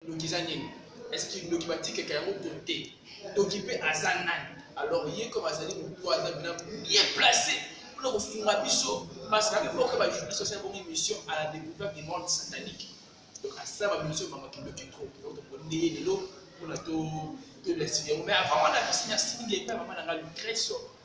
ndoki eza nini est-ce que ndoki batikaka yango to te ndoki mpe aza nani alors ye comme azali motu aza bina bien placé mpona kosunga biso parce que abiboka bajournaliste asali bongo émission à la découverte du monde satanique donc asala bamission mamaki ndoki trop donc tokonde ye lelo mpona to tolesi yango mais avant wana apesi merci mingi epai mama na ngai lucreso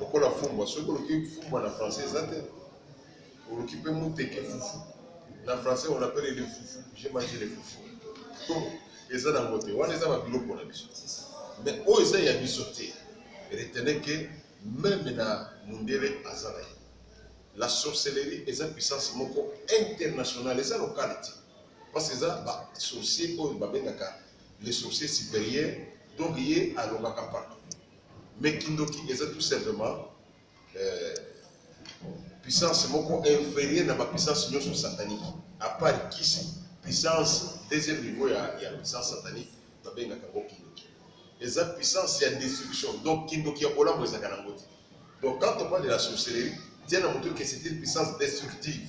lokola fumbwa soki oluki fumbwa na français eza te oluki mpe moteke fufu na français on appelle le fufu j'ai mangé le fufu to eza nango te wana eza babiloko na biso mais oyo eza ya biso te retenez que meme na mundele aza na ye la sorcellerie eza puissance moko internationale eza lokale te parce eza basorcier oyo babengaka le sorcier supérieur donc ye alobaka partout mais kindoki eza tout simplement euh, puissance moko inférieure na bapuissance nyonso satanique à part kisi puissance deuxième niveau ya, ya puissance satanique babengaka yango kindoki eza puissance ya destruction donc kindoki ya kolambo ezalaka nango te donc quand on parle de la sorcellerie tia na moto que c'est une puissance destructive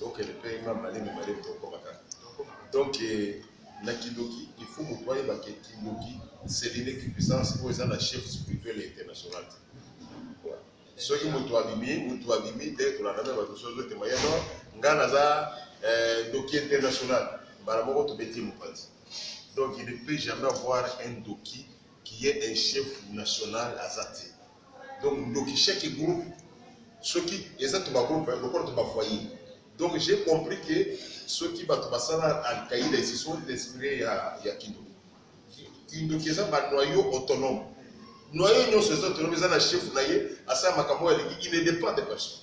donc elle paye ma malemi malemi tokoma kaka donc eh, na kindoki il faut moto ayeba ke kindoki c'est l'unique puissance oyo eza na chef spirituel ya international te soki moto abimi moto abimi nde tolanda me bato soki ozotema ye no ngai naza eh, ndoki international mbala moko tobeti mopanzi donc il ne peut jamais avoir un doki qui est un chef national aza te donc ndoki chaque groupe soki eza to bagroupe lokola to bafoyer donc j'ai compris que soki bato basala alkaïda esi sont inspiré ya, ya kindoki kindoki eza banoyo autonome noyo nyonso eza autonome eza na chef na ye asala makambo oyo alingi il ne dépend de personne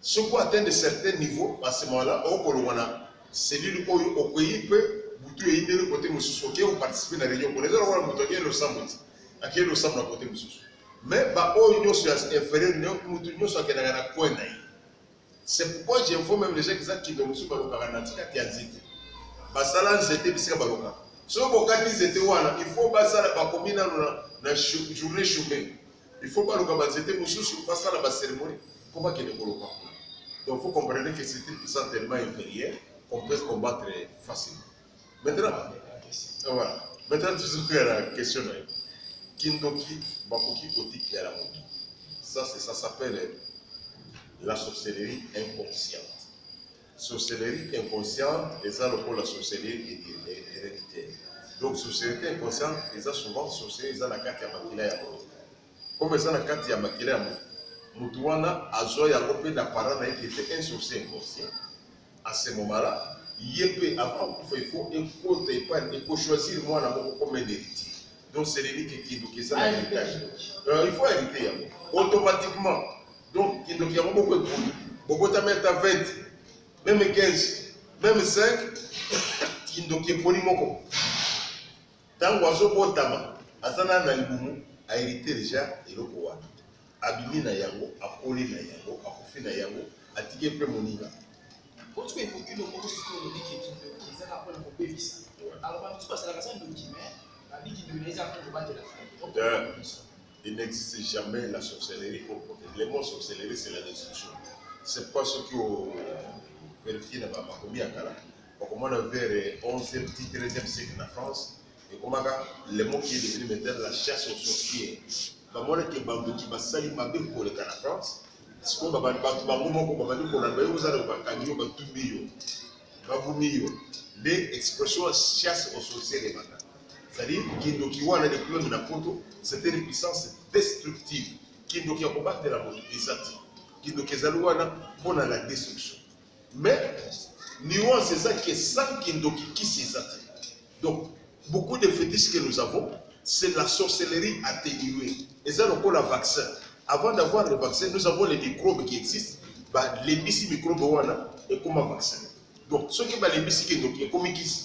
Soki atteindre certain niveau, à ce moment-là, okolongwa na cellule oyo okwei mpe butu eyindeli kote mosusu oke oparticipe na réunion kuna eza lokola moto akei losambo ti akei losambo na kote mosusu mais baoyo nyonso ya inférieur moto nyonso akendaka na coin na ye c'est pourquoi j'info même les gens kiza kindo mosusu balokaka na tikati ya nzete basala nzete bisika balokaka soki bokati nzete wana il faut basala bakomi nano na journée chaume il faut baluka banzete mosusu basala baceremonie mpo bakende koloka kuna donc faut comprendre que c'est une puissance tellement inférieure qu'on peut combattre facilement maintenant ah, voilà maintenant tozokoya na question na yo kindoki bakoki kotikela moto ça c'est ça s'appelle la sorcellerie inconsciente Sorcellerie inconsciente eza lokola sorcellerie héréditaire. Donc sorcellerie inconsciente eza souvent sorcellerie eza na kati ya makila ya moto. Comme eza na kati ya makila ya moto, moto wana azwa yango mpe na parent na ye qui était un sorcier inconscient. À ce moment-là, ye mpe avant kufa il faut ekota epai ekochoisir mwana moko comme un héritier. Donc seleli ke kindoki eza na héritage. Euh, il faut hériter yango automatiquement. Donc, kindoki yango boko ekoli. Bobotami ata 20, meme 15, meme 5, kindoki ekoli moko. Tango azobotama, aza na na libumu, a hérité déjà eloko wana. Abimi na yango, akoli na yango, akufi na yango, atiki mpe moninga. Otuka ekoki loko kosiko lobi ke kindoki eza na pona kobebisa. Alors, bamosusu basalaka sa ndoki, mais babiki ndoki na eza mpo kobatela. Euh. Il n'existe jamais la sorcellerie pour protéger. Le mot sorcellerie, c'est la destruction. C'est pourquoi ceux qui ont vérifié dans ma commis à Kala, on commence vers le 11e, 13e siècle en France, et comment le mot qui est devenu maintenant la chasse aux sorciers. bamona ke bandoki basali mabe koleka na france sikoyo bato bango moko babandi kolanda yo ozala bakangi yo batumbi yo babumi yo nde expression ya chasse aux sorciers ebanda C'est-à-dire, kindoki wana de kulonde na poto, c'était une puissance destructive. Kindoki ya kobatela moto eza te. Kindoki ezali wana mpo na la destruction. Mais nuance eza que sans kindoki kisi eza te. Donc, beaucoup de fétiches que nous avons, c'est la sorcellerie atténuée. Eza lokola vaccin. Avant d'avoir le vaccin, nous avons les microbes qui existent. balembisi mikrobe wana ekoma vaccin donc soki balembisi kindoki ekomi kisi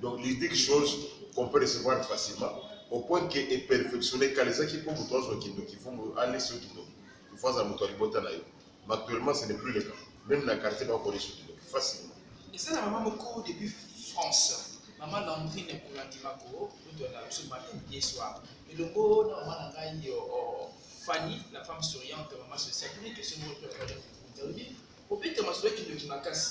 Donc il dit quelque chose qu'on peut recevoir facilement au point que est perfectionné kalezaki mpo moto azwa kindoki fo alesi yo kindoki ifo azala moto ya libota na yo mais actuellement ce n'est plus le cas même na quartier bakolesi yo kindoki facilement eza na mama moko depuis france mama landrine ekolandi mako moto ya biso matin ye soir elongo na mama na ngai fanny la femme souriante mama sociale une question moko obeta masolo ya kindoki makasi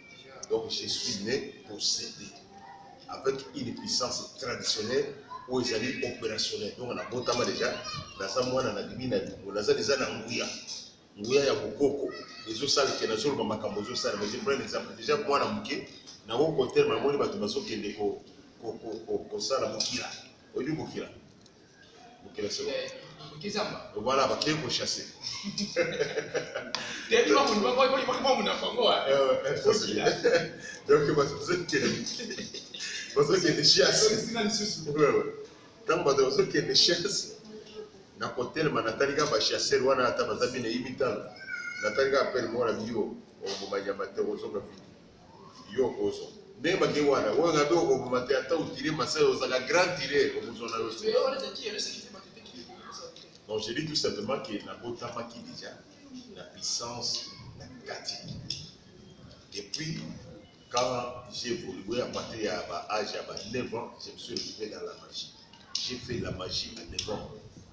Donc je suis né pour céder avec une puissance traditionnelle ou oyo ezali opérationnel donc na botama deja naza mwana na bibi na lingo naza deja na nguya nguya ya bokoko ezosala ke nazoloba makambo ezosala mais je prends un exemple deja mwana moke nango kotelema namoni bato bazokende kosala bokila oyebi bokila mokili ya solo kezamba voilà bakei kochasse teyebi mamuna bango donc bazokende bazokende chasse ntango bato bazokende chasse na kotelema natali kaka bachasseur wana ata baza bina ye mitano natali kaka pene moko na biyo oboma nyama te ozonga vidi yo okozo ndenge bake wana oyo ngabe okoboma te ata otire masai ozalaka grand tire okozwa na yo te donc je dis tout simplement ke nabotamaki déjà na puissance na kati et puis quand j'ai évolué à partir ya ba âge ya ba 9 ans je me suis retrouvé dans la magie j'ai fait la magie à 9 ans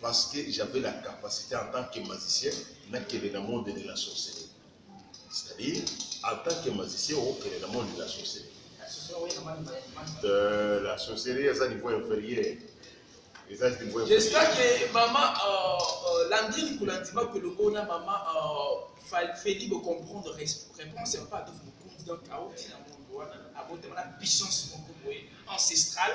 parce que j'avais la capacité en tant que magicien nakende na monde de la sorcellerie c'est-à-dire en tant que magicien okende na monde de la sorcellerie euh, la sorcellerie eza niveau inférieur eza niveau j'espère que mama euh, euh, landini kolandima kolongo na mama euh, feli bocomprendre réponse ya papa adof mokonzi donc aoki na mondo wana abotama na puissance moko boye ancestrale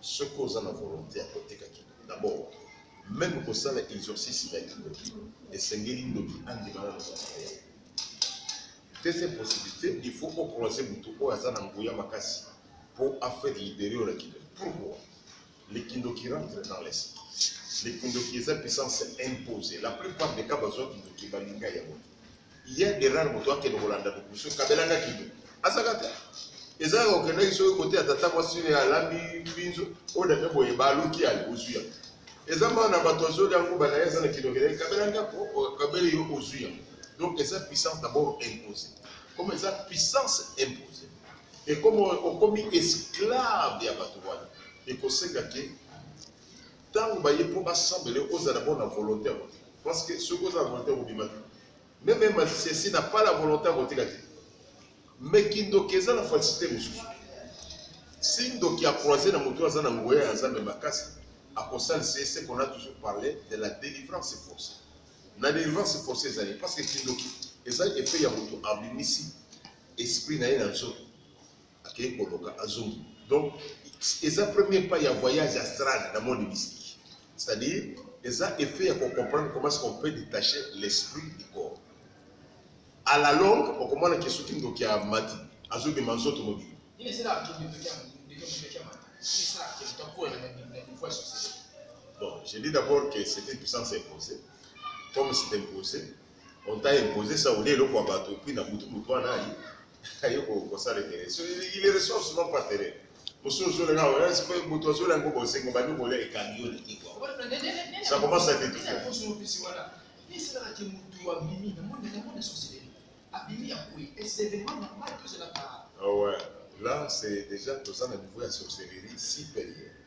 soki oza na volonté ya koteka kindoki d'abord meme kosala exorcisme ya kindoki esengeli ndoki andimana na mosala ya deuxième possibilité il faut ocroise motu oyo aza na nguya makasi mpo affaire libere oyo na kindoki pourquoi le kindoki rentre dans l'esprit le kindoki eza puissance impose la plupart des cas bazwa kindoki balinga yango ye derrare moto akende kolanda biso kabela nga kino azaka te eza kaka okendaki soki kote ya tata mwasi ne alambi binzo oyo dame boye baluki ali ozwi yango eza mwana na bato azoli yango bana ye eza na kino okelaki kabela nga kabeli yo ozwi yango donc eza puissance d'abord imposé comme eza puissance imposé et comme okomi esclave ya bato wana ekosenga ke ntango baye mpo basambela yo ozala mpo na volonté ya kotika parce que soki ozala volonté ya kobima te meme masesi na pas la volonté ya kotika te mais kindoki eza na facilité mosusu si ndoki acroise na moto aza na ngoya ya nzambe makasi akosalisa ye seke on a toujours parlé de la délivrance forcée na délivrance forcée ezali parce que kindoki eza effet ya moto abimisi esprit na ye na nzoto akei koloka azongi donc eza premier pas ya voyage astral na monde mystique c'est-à-dire eza effet ya kocomprendre comment ce qu'on peut détacher l'esprit du corps à la longue okomona ke soki ndoki ya mati azobima nzoto mobili Bon, j'ai dit d'abord que c'était une puissance imposée. Comme c'est imposé, on t'a imposé ça olie eloko ya bato epui na butu motu wana aye kosala tere il est ressource non pas tere mosusu ozolenga moto azola yango bosengo bandi kolia ekangi yo na kikwa ça commence à t'étouffer Ah ouais, là c'est déjà tout ça le niveau de sorcellerie si payé.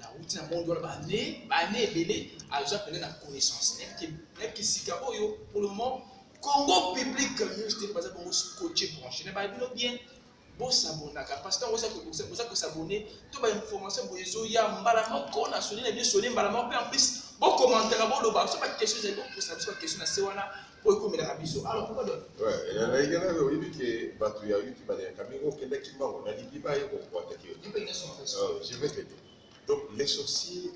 nauti na monde wana bane bane ebele aza pene na connaissance nayebiki sika oyo pour le moment congo public news te baza bongo scotche branche na bayebi no bien bosabonaka parce que ntango oza kosabone to bainformation boye ezoya mbala moko na soni na biso soni mbala moko mpe en plus bokomantaka boloba so baquestion ezali bokosa biso baquestion na se wana oyo ekomelaka biso alors pourquoi donc ezalaki na oyebi ke bato ya yuti baleyaka mingi okendaki mbango nalingi baye kokwataki yo je vais te dire donc les sorciers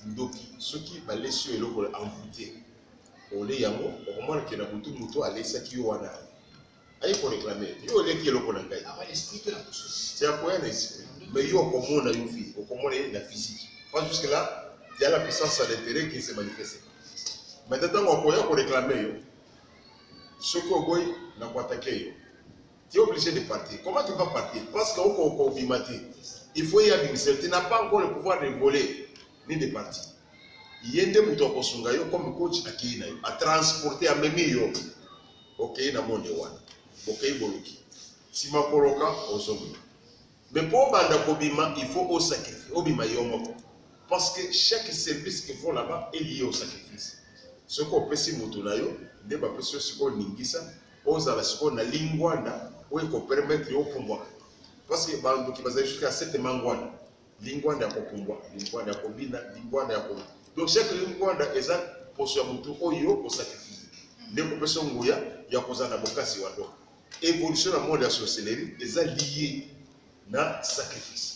ndoki soki balesi yo eloko envoute ole yango okomona ke na butu moto alesaki yo wana aye koreklame yo oleki eloko na ngai c'est ya koya na esprit mais yo okomona yo vie okomona ye na physique pas jusque là il y a la puissance à l'intérêt qui se manifeste maintenant ntango akoya koreklame yo soki oboyi na koatake yo tu es obligé de partir comment tu vas partir parce que okobima te il faut ye abimisa tu n'as pas encore le pouvoir de voler ni de partir ye nde moto akosunga yo comme coach akei na yo atransporte amemi yo Bokei na monde wana, bokei boluki, sima koloka ozongi. Mais mpo obanda kobima, il faut au sacrifice, obima yo moko. Parce que chaque service qu'il faut là-bas est lié au sacrifice. Ce qu'on peut si mutunayo, n'est pas plus ce qu'on ningisa, aux à la seconde, la linguana, ou qu'on permettre au pouvoir. Parce que bandu qui va jusqu'à cette manguana, lingwanda ya kopumbwa lingwanda ya kobina lingwanda ya ko donc chaque lingwanda eza poso ya motu oyo osakrifie nde kopesa nguya ya kozala na bokasi wa donc évolution na monde ya sorcellerie eza lié na sacrifice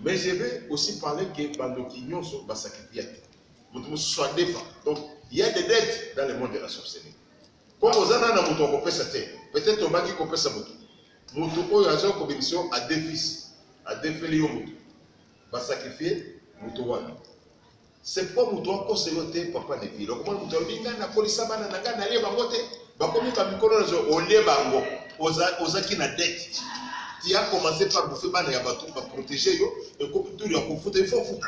mais je vais aussi parler que bandoki nyonso basakrifia te motu mosusu adefa donc il y a des dettes dans le monde de la sorcellerie Comme oza nana moto ya kopesa te, peut-être obaki kopesa moto. Moto oyo aza kobimisa yo adefisi, adefeli yo moto. Ba sacrifier moto wana. C'est pas moto akosa yo te papa ne vile. Okomona moto alobi ngai nakolisa bana na ngai nalie bango te. Bakomi ba mikolo na zo olie bango. Oza ozaki na dette. Tu as commencé par bouffer bana ya bato ba protéger yo et comme tout ya kofuta il faut futa.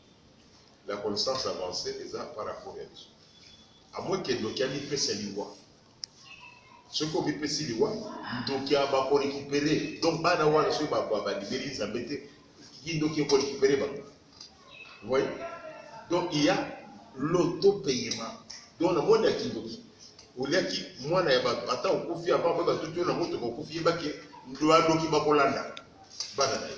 la connaissance avancée eza par rapport ya biso amwe ke ndoki amipesa liwa soki omipesi liwa ndoki bakorekipere donc bana wana soki balibeli nzambe te ye ndoki ekorekipere bango voye donc il y a l'autopayement donc na moni ya kindoki oliaki mwana ya bato ata okufi avant mpe batuti yo na motoka okufi yebaki ndoki bakolanda bana na ye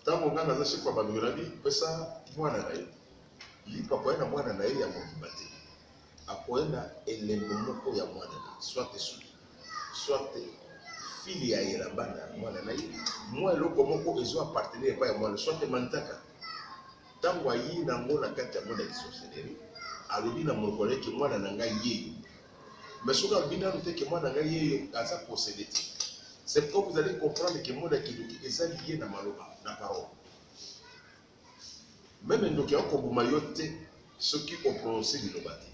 Ntango ngai naza seko ya balobi na bi pesa mwana na ye lipa akoya na mwana na ye ya mobimba te akoya na elembo moko ya mwana na swate suki swate fili ya yela bana ya mwana na ye mwa eloko moko ezo appartenir epai ya mwana swate mantaka ntango ayi na yango na kati ya mwana ya sorcellerie alobi na monoko na ye ke mwana na ngai ye Mais soki alobi nanu te ke mwana na ngai ye aza posede te. C'est pourquoi vous allez comprendre ke mot na kindoki eza liye na maloba, na parole. Meme ndoki yako boma yo te soki o prononcer liloba te.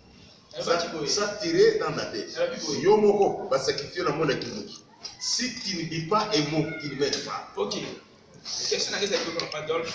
Ça tirer dans la tête. Yo moko ba sacrifier na mot na kindoki. Si tu ne dis pas un mot, tu ne mets pas. OK. Question na kesa ko papa Adolphe.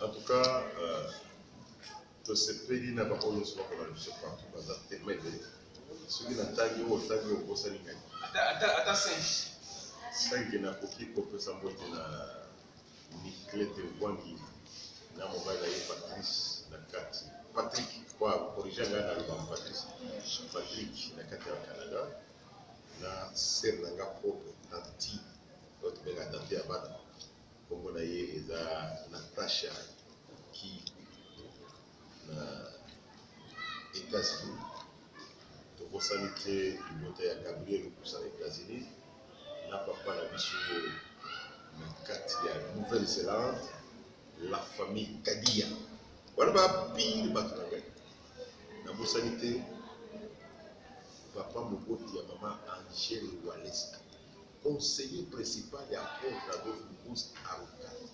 En tout cas, euh, tosepeli na bango nyonso bakola biso partout baza tema ebele soki natangi oyo otangi oyo okosani ngai ata singe singe nakoki kopesa mbote na niclete bwangi na mobali na ye patrice na kati patrick kwa korige ngai na loba patrice patrick na kati ya canada na sere na nga propre tanti oyo tobenga tante ya bana Kombo na ye eza Natasha ki na Etats-Unis. Tokosani te libota ya Gabriel Lukusa na Etats-Unis na papa na biso na kati ya Nouvelle-Zélande, la famille Kadia. Wana ba pire bato na ngai. Nabosani te papa moboti ya mama Angèle Waleska. Conseiller principal ya Apôtre Adolphe Mukuse Arukati.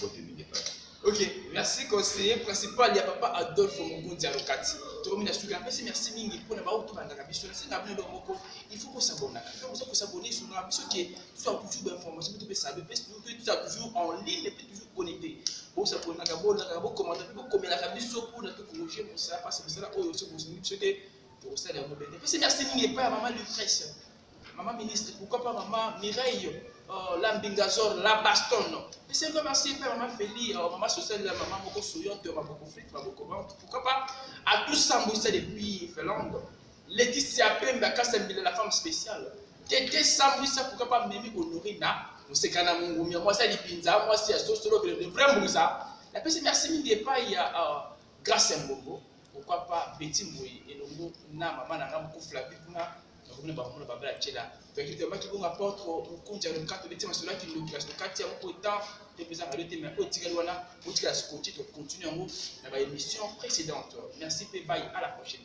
Bote mingi papa. Ok, merci conseiller principal ya papa Adolphe Mugunzi Alokati. Tokomi na suka apesi merci mingi mpo na baoyo tobandaka biso nasenga bino eloko moko il faut kosabonaka mpe oza kosabone sunga biso ke tozala toujours bainformation mpe topesa be mpe tozala toujours en ligne mpe toujours connecté bosabonaka bolaka bokomanda mpe bokomelaka biso mpo na tokorige mosala mpasi mosala oyo soki bosungi biso te tokosala yango bete mpesi merci mingi epai ya mama lucrece Maman ministre, pourquoi pas maman Mireille, euh, la mbingazor, la baston Mais c'est vraiment si pas maman Feli, euh, maman sociale, la maman Moko Souyon, tu maman Moko Flit, maman Moko Vente, pourquoi pas à tout s'embouisser depuis Finlande Laetitia Pemba, Kassembile, la femme spéciale. Tété s'embouisser, pourquoi pas Mimi Honorina, Mosekana Mungumia, moi c'est Lipinza, moi c'est Sosolo, le vrai Mouza. La personne, merci mille pas, il y a euh, Grâce Mbongo, pourquoi pas Betty Mouye, et le mot, na maman, na maman Moko Flavie, bakobina bango na babala tyela toyaki toyambaki bongo aporte mokonzi ya lokato beti masolo ya kindoki kasi tokati yango mpo etan topesa radio te mai oyo etikali wana otikala scoti tocontinue yango na baémission précédente merci mpe bai à la prochaine